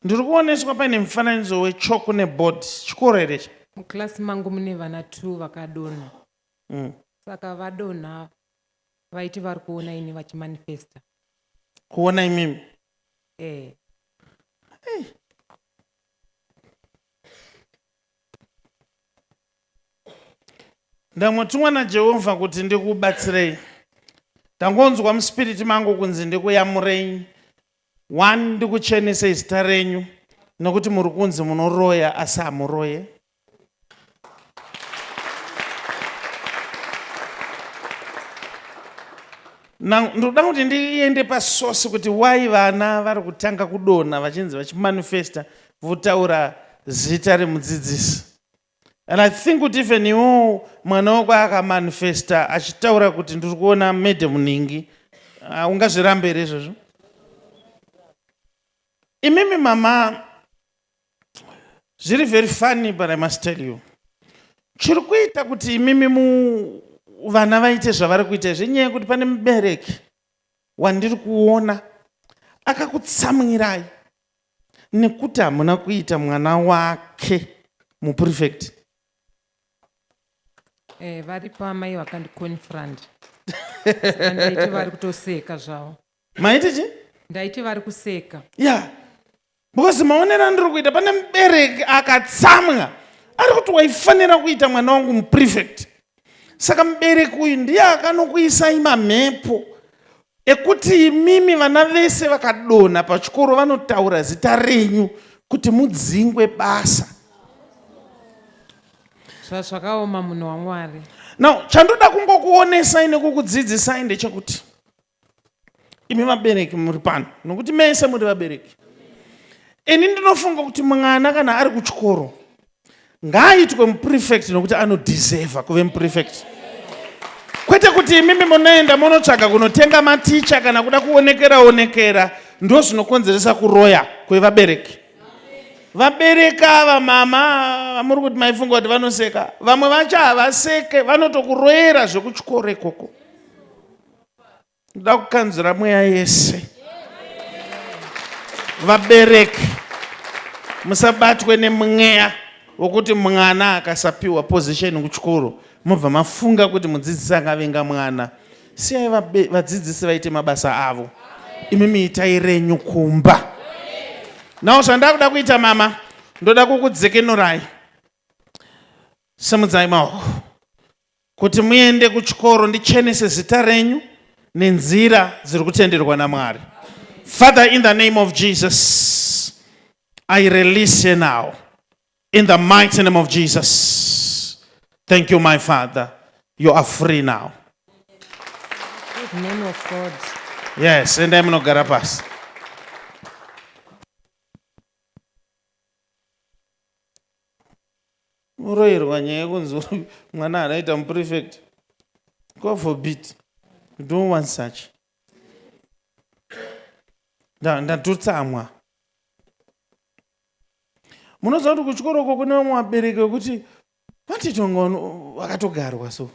Ndiri kuoneswa paine mufananidzo wechalk ne board. Chikoro here ichi? Muclass mangu mune vana two vakadonha. Mm. Saka vadonha vaiti vari kuona ini vachimanifesta. Kuona imimi? Eh. Hey. Ndamotumwa naJehovha kuti ndikubatsirei. Ndangonzwa muspiriti mangu kunzi ndikuyamurei One ndikuchenese zita renyu nokuti muri kunzi munoroya asi hamuroye. Now ndoda kuti ndiende pasource kuti why vana vari kutanga kudonha vachinzi vachimanifesta votaura zita remudzidzisi. And I think kuti even iwowo mwana wako akamanifesta achitaura kuti ndiri kuona madam nhingi ah, ungazvirambe here izvozvo imimi mama zviri very funny but i must tell you chiri kuita kuti imimi mu vana vaite zvavari kuita izvi inyaya yekuti pane mubereki wandiri kuona akakutsamwirai nekuti hamuna kuita mwana wake muprefect. Eh, varipo amai vakandiconfront Saka ndaiti vari kutoseka zvavo Maiti chi? ndaiti vari kuseka Yeah. Because maonero andiri kuita pane mubereki akatsamwa ari kuti waifanira kuita mwana wangu muprefect. Saka mubereki uyu ndiye akanokuisai mamhepo ekuti imimi vana vese vakadonha pachikoro vanotaura zita renyu kuti mudzingwe basa. Zvazvakaoma munhu waMwari. Now chandoda kungokuonesai nekukudzidzisai ndechekuti imi vabereki muri pano nokuti mese muri vabereki ini ndinofunga kuti mwana kana ari kuchikoro ngaaitwe muprefect nokuti anodeserva kuve muprefect kwete kuti imimi munoenda munotsvaga kunotenga maticha kana kuda kuonekera onekera ndo zvinokonzeresa kuroya kwevabereki vabereki ava mama vamuri kuti maifunga kuti vanoseka vamwe vacho havaseke vanotokuroyera zvekuchikoro ikoko ndoda kukanzura mweya yese vabereki musabatwe nemweya wokuti mwana akasapiwa position kuchikoro mobva mafunga kuti mudzidzisi akavenga mwana siyai vadzidzisi vaite mabasa avo imi miitai renyu kumba nawo zvandakuda kuita mama ndoda kukudzekenurai simudzai maoko kuti muende kuchikoro ndichenese zita renyu nenzira dziri kutenderwa namwari father in the name of jesus i release her now in the mighty name of jesus thank you my father you are free now In the name of God. yes endai munogara pasi uroirwa nyaya yekunzi mwana anoita muprefect god forbid you don't want such ndatotsamwa munoziva kuti kuchikoro uko kune vamwe vabereki vekuti vatitonga vakatogarwa so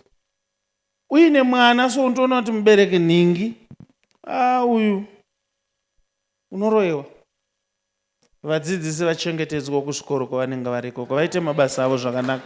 uine mwana so unotoona kuti mubereki nhingi a ah, uyu unoroyewa Vadzidzisi vachengetedzwewo kuzvikoro kwavanenge vari ikoko vaite mabasa avo zvakanaka.